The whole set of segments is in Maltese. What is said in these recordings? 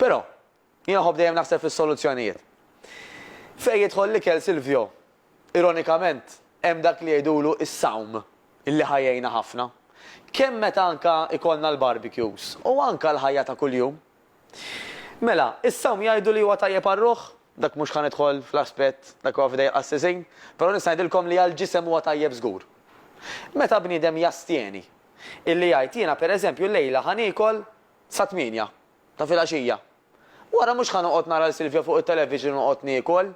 Però, jien nħobb dejjem naħseb fis-soluzzjonijiet. Fejn jidħol l-ikel Silvio, ironikament, hemm dak li jgħidulu s-sawm li ħa jgħinna ħafna, kemm meta anke jkollna l-barbecues u anke l-ħajja ta' kuljum. Mela, is-sawm jgħidu li huwa tajjeb għar-ruħ, dak mhux ħa nidħol fl-aspett, dak huwa f'idejn il-qassisin, però nista' ngħidilkom li għall-ġisem huwa tajjeb żgur. Meta bniedem jastjeni, illi jgħid jiena pereżempju llejla ħa niekol sa tmienja ta' filgħaxija. Wara mhux ħa noqgħod nara 'l Silvio fuq it-television u noqgħod niekol.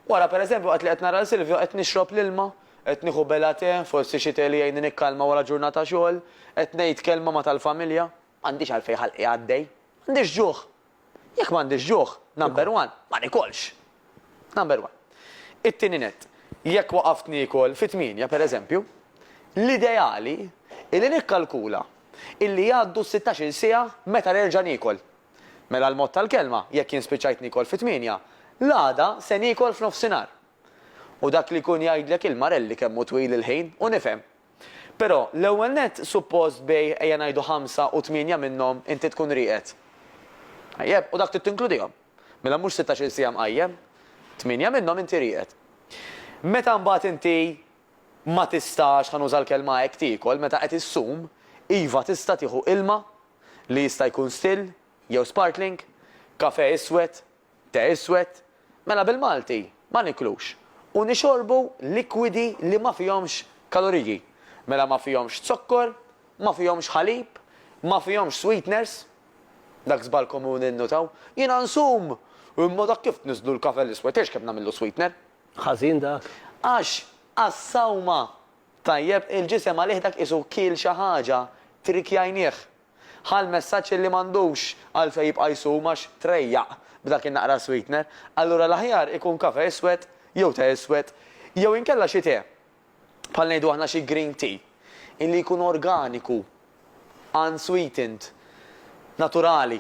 Wara per eżempju waqt li qed nara 'l Silvio qed nixrob l-ilma, qed nieħu belgħa tè, forsi xi tè li jgħinni nikkalma wara ġurnata xogħol, qed ngħid kelma ma' tal-familja. M'għandix għalfejn ħalqi għaddej. M'għandix ġuħ. Jekk m'għandix ġuħ, number one, ma nikolx. Number one. It-tieni nett, jekk waqaft niekol fi tmienja, per eżempju, l-ideali hi li nikkalkula illi jgħaddu s-sittax-il siegħa meta nerġa' niekol. Mela l-mod tal-kelma, jekk jien spiċċajt niekol fi tmienja, l-għada se niekol f'nofsinhar. U dak li jkun jgħidlek il-marelli kemm hu twil il-ħin u nifhem. Però, l-ewwel nett, suppost bejgħ ejja ngħidu ħamsa u tmienja minnhom inti tkun rieqed. Tajjeb, u dak trid tinkludihom. Mela mhux sittax-il siegħa mqajjem? Tmienja minnhom inti rieqed. Meta mbagħad inti ma tistax, ħa nuża l-kelma hekk, tiekol, meta qed issum, iva tista' tieħu ilma li jista' jkun still jew sparkling, kafè iswed, te iswed, mela bil-Malti ma niklux u nixorbu likwidi li ma fihomx kaloriji, mela ma fihomx zokkor, ma fihomx ħalib, ma fihomx sweeteners, Dak żball komuni nnutaw. Jiena nsum! Imma dak kif tniżżlu l-kafe l-iswed, tgħidx kemm nagħmillu sweetener. Ħażin dak? Għax għas-sawma, tajjeb, il-ġisem għalih dak qisu kiel xi ħaġa, trikjajnieh. Ħa l-messaġġ illi m'għandux għalfejn jibqa' jsum għax trejjaq b'dak in-naqra sweetener. Allura l-aħjar ikun kafe iswed jew te iswed jew inkella xi te, bħal ngħidu aħna xi green tea, illi jkun organiku, unsweetened, naturali,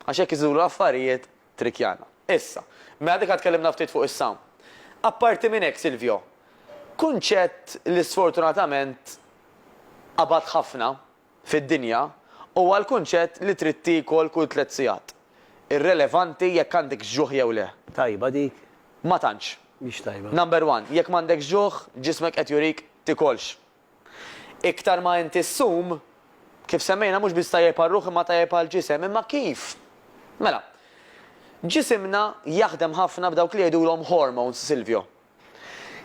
għax hekk iżidu l-affarijiet trickjana. Issa, mela diġà tkellimna ftit fuq is-sawm. Apparti minn hekk Silvio, kunċett li sfortunatament qabad ħafna fid-dinja huwa l-kunċett li trid tiekol kull tliet sigħat, irrelevanti jekk għandekx ġuħ jew le. Tajba dik? Ma tantx. Mhix tajba. Number one, jekk m'għandekx ġuħ, ġismek qed jurik tikolx. Iktar ma int issum, kif semmejna mhux biss tajjeb għar-ruħ imma tajjeb għall-ġisem. Imma kif? Mela, ġisimna jaħdem ħafna b'dawk li jgħidulhom hormones, Silvio.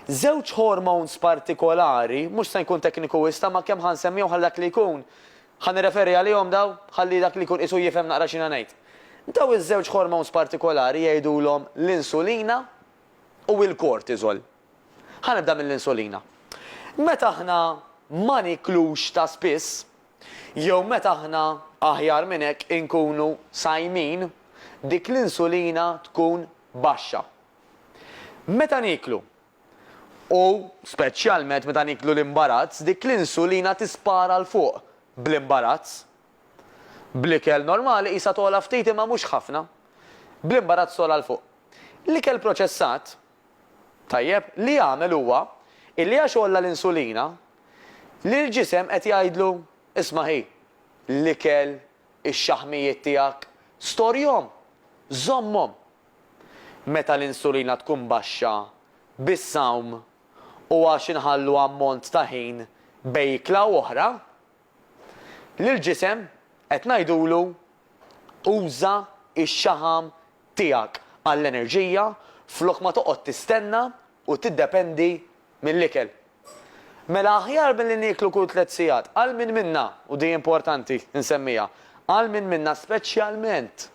Żewġ hormones partikolari, mhux se nkun tekniku wisq tama' kemm ħa nsemmihom ħalli dak li jkun, ħa nirreferi għalihom dawn, ħalli dak li jkun qisu jifhem naqra x'jiena ngħid. Dawn iż-żewġ hormones partikolari jgħidulhom l-insulina u l-cortisol. Ħa nibda mill-insulina. Meta aħna ma nieklux ta' spiss, jew meta aħna, aħjar minn hekk, inkunu sajmin, dik l-insulina tkun baxxa. Meta nieklu, u speċjalment meta nieklu l-imbarazz, dik l-insulina tispara 'l fuq bl-imbarazz. Bl-ikel normali qisha togħla ftit imma mhux ħafna. Bl-imbarazz togħla 'l fuq. L-ikel proċessat, tajjeb, li jagħmel huwa illi għax għolla l-insulina, lill-ġisem qed jgħidlu, isma' hi, l-ikel, ix-xaħmijiet tiegħek, storjhom, żommhom. Meta l-insulina tkun baxxa, bis-sawm u għax inħallu ammont ta' ħin bejn ikla u oħra, lill-ġisem qed ngħidulu uża x-xaħam tiegħek għall-enerġija flok ma toqgħod tistenna u tiddependi mill-ikel. Mela aħjar milli nieklu kull tliet sigħat, għal min minna, u di importanti nsemmiha, għal min minna speċjalment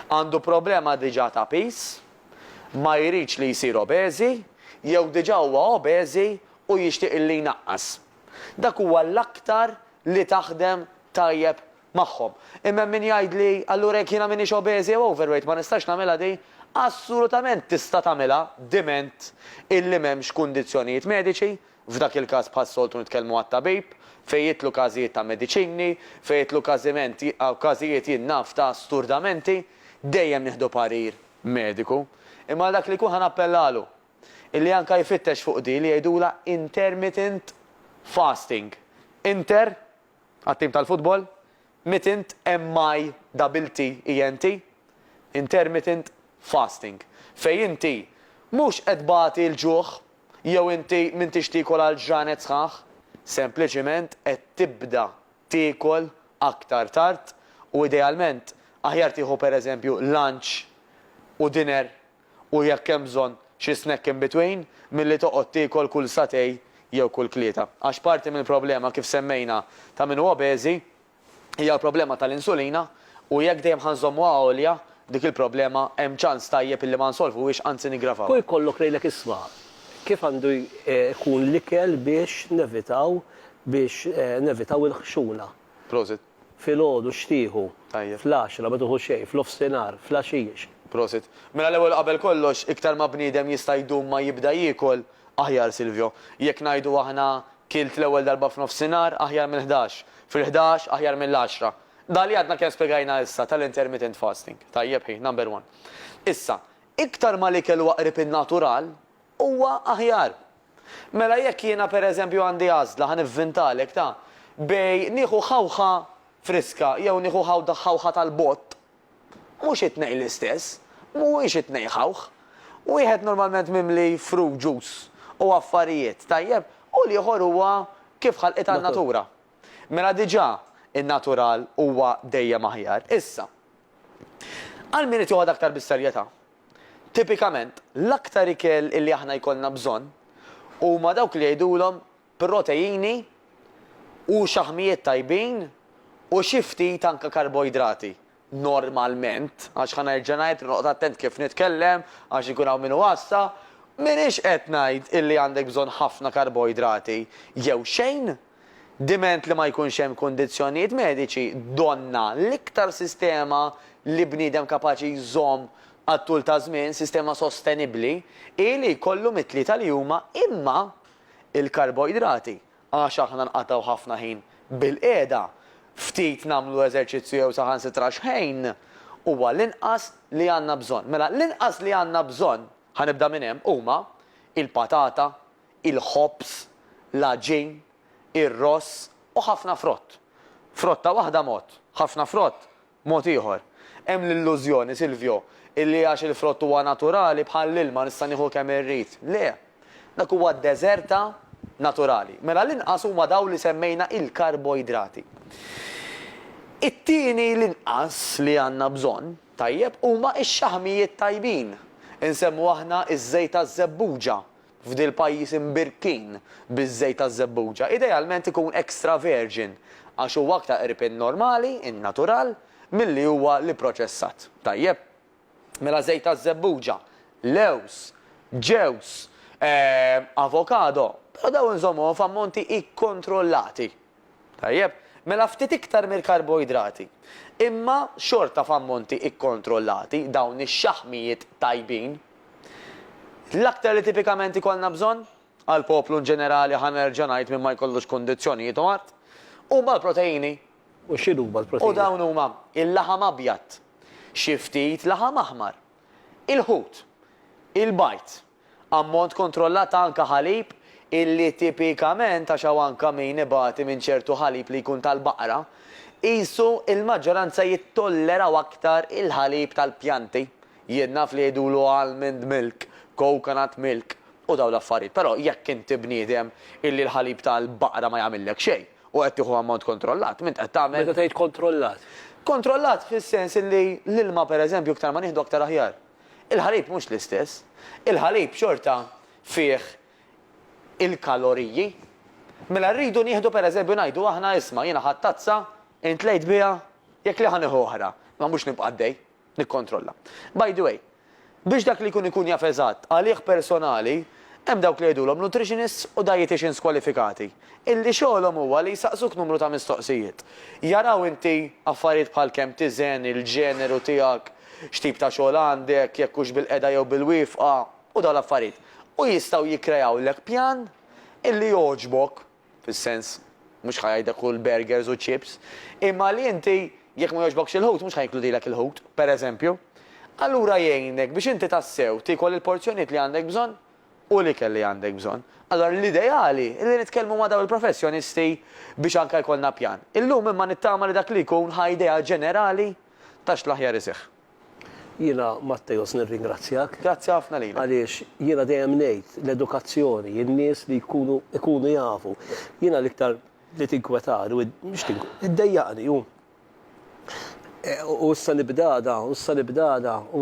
għandu problema diġà ta' piż, ma jridx li jsir obeżi, jew diġà huwa obeżi u jixtieq li jnaqqas. Dak huwa l-aktar li taħdem tajjeb magħhom. Imma hemm min jgħidli, allura jekk jiena m'iniex obese jew overweight ma nistax nagħmilha din? Assolutament tista' tagħmilha diment illi m'hemmx kundizzjonijiet mediċi, f'dak il-każ bħas-soltu nitkellmu għat-tabib, fejn jidħlu każijiet ta' mediċini, fejn jidħlu każiment każijiet jien naf ta' sturdamenti, dejjem nieħdu parir mediku. Imma għal dak li jkun ħa nappellalu illi anke jfittex fuq din li jgħidulha intermittent fasting, inter Għat-tim tal-futbol, mittent, MIDDLTENT, intermittent fasting, fejn inti mhux qed tbati l-ġuħ jew inti m'intix tiekol għal ġranet sħaħ, sempliċiment qed tibda tiekol aktar tard u idealment aħjar tieħu pereżempju lunch u dinner u jekk hemm bżonn xi snack in between milli toqgħod tiekol kull satè jew kull tlieta. Għax parti mill-problema kif semmejna ta' min hu obeżi hija l-problema tal-insulina u jekk dejjem ħa nżommuha għolja dik il-problema hemm ċans tajjeb illi ma nsolvuhiex anzi niggravawha. Kull jkollok lejlek isma' kif għandu jkun l-ikel biex nevitaw biex nevitaw il-ħxuna. Prosit. Filgħodu x'tieħu? Tajjeb. Fl-għaxra, ma tieħu xejn, f'nofsinhar, fl-għaxix. Prosit. Mela l-ewwel u qabel kollox, iktar ma bniedem jista' jdum ma jibda jiekol, aħjar Silvio. Jekk ngħidu aħna kilt l-ewwel darba f'nofsinhar, aħjar mill-ħdax. Fil-ħdax, aħjar mill-għaxra. Dak li għadna kemm spjegajna issa tal-intermittent fasting. Tajjeb hi, number one. Issa, iktar ma l-ikel huwa qrib in-natural, huwa aħjar. Mela jekk jiena pereżempju għandi għażla, ħa nivvintalek, ta, bej nieħu ħawħa friska jew nieħu ħawda ħawħa tal-bott, mhux it-tnejn l-istess, mhuwiex it-tnejn ħawħ. Wieħed normalment mimli fruit juice u affarijiet, tajjeb, u l-ieħor huwa kif ħalqitha n-natura. Mela diġà in-natural huwa dejjem aħjar. Issa, għal min irid joħodha aktar bis-serjetà, Tipikament, l-aktar ikel li aħna jkollna bżonn huma dawk li jgħidulhom proteini u xaħmijiet tajbin u xi ftit anke karboidrati, normalment, għax ħa nerġa' ngħid li noqgħod attent kif nitkellem għax ikun hawn min iwassa, m'iniex qed ngħid illi għandek bżonn ħafna karboidrati jew xejn, Diment li ma jkunx hemm kundizzjonijiet mediċi, donnha, l-iktar sistema li bniedem kapaċi jżomm għat-tul ta' żmien, sistema sostenibbli, hi li jkollu mit-tlieta li huma imma l-karboidrati, għax aħna nqatgħu ħafna ħin bilqiegħda, ftit nagħmlu eżerċizzju jew saħansitra xħejn, huwa l-inqas li għandna bżonn. Mela, l-inqas li għandna bżonn, ħa nibda minn hemm, huma l-patata, il-ħobż, l-għaġin, ir-ross u ħafna frott. Frotta waħda mod, ħafna frott mod ieħor. Hemm l-illużjoni, Silvio, illi għax il-frott huwa naturali bħall-ilma nista' nieħu kemm irrid. Le! Dak huwa deżerta naturali. Mela l-inqas huma dawn li semmejna il-karboidrati. It-tieni l-inqas li għandna bżonn, tajjeb, huma x-xaħmijiet tajbin. Insemmu aħna ż-żejt taż-żebbuġa, f'dil pajjiż imbirkin biż-żejt taż-żebbuġa, idealment ikun extra virgin għax huwa aktar qrib in-normali, in-natural, milli huwa l-ipproċessat. Tajjeb. Mela żejt taż-żebbuġa, lewż, ġewż, avokado, però dawn inżommuhom f'ammonti ikkontrollati. Tajjeb, mela ftit iktar mill-karboidrati. Imma xorta f'ammonti ikkontrollati, dawn ix-xaħmijiet tajbin. L-aktar li tipikament ikollna bżonn, għall-poplu inġenerali ħa nerġa' ngħid min ma jkollux kundizzjonijiet u mard, huma l-proteini. U x'inhuma l-proteini? U dawn huma, il-laħam abjad, xi ftit laħam aħmar, il-ħut, il-bajd, Ammont kontrollat ta' anka ħalib illi tipikament għax hawn anka min ibati minn ċertu ħalib li jkun tal-baqra, qisu il-maġġoranza jittolleraw aktar il-ħalib tal-pjanti. Jien naf li jgħidulu almond milk, coconut milk u dawn l-affarijiet però jekk inti bniedem illi l-ħalib tal-baqra ma jagħmillek xejn u qed tieħu ammont kontrollat m'int qed tagħmel. Meta tgħid kontrollat? Kontrollat fis-sens illi l-ilma pereżempju iktar ma nieħdu aktar aħjar. Il-ħalib mhux l-istess. Il-ħalib xorta fih il-kaloriji. Mela rridu nieħdu pereżempju ngħidu aħna isma' jiena ħadt tazza, int tlejt biha, jekk le ħa nieħu oħra, ma mhux nibqa' għaddej nikkontrolla. By the way, biex dak li jkun ikun jaf eżatt għalih personali, hemm dawk li jgħidulhom nutritionists u dieticians kwalifikati. illi xogħolhom huwa li jsaqsuk numru ta' mistoqsijiet. Jaraw inti affarijiet bħal kemm tiżen, il-ġeneru tiegħek, x'tip ta' xogħol għandek, jekk hux bil-qegħda jew bil-wieqfa, u dawn l-affarijiet. U jistgħu jikkreawlek pjan illi jogħġbok, fis-sens, mhux ħa jgħidlek kul burgers u chips, imma li inti, jekk ma jogħġbokx il-ħut, mhux ħa jinkludilek il-ħut, pereżempju. Allura jgħinek biex inti tassew tiekol il-porzjonijiet li għandek bżonn. u l-ikel li għandek bżonn. Allura l-ideali hi li nitkellmu ma' dawn il-professjonisti biex anke jkollna pjan. Illum imma nittama li dak li jkun ħa idea ġenerali ta' x'l-aħjar iseħħ. Jiena Matteos nirringrazzjak. Grazzi ħafna lilek. Għaliex jiena dejjem ngħid l-edukazzjoni, in-nies li jkunu ikunu jafu. Jiena l-iktar li tinkwetani u mhux tink iddejjaqni hu u issa nibdada u issa nibdada u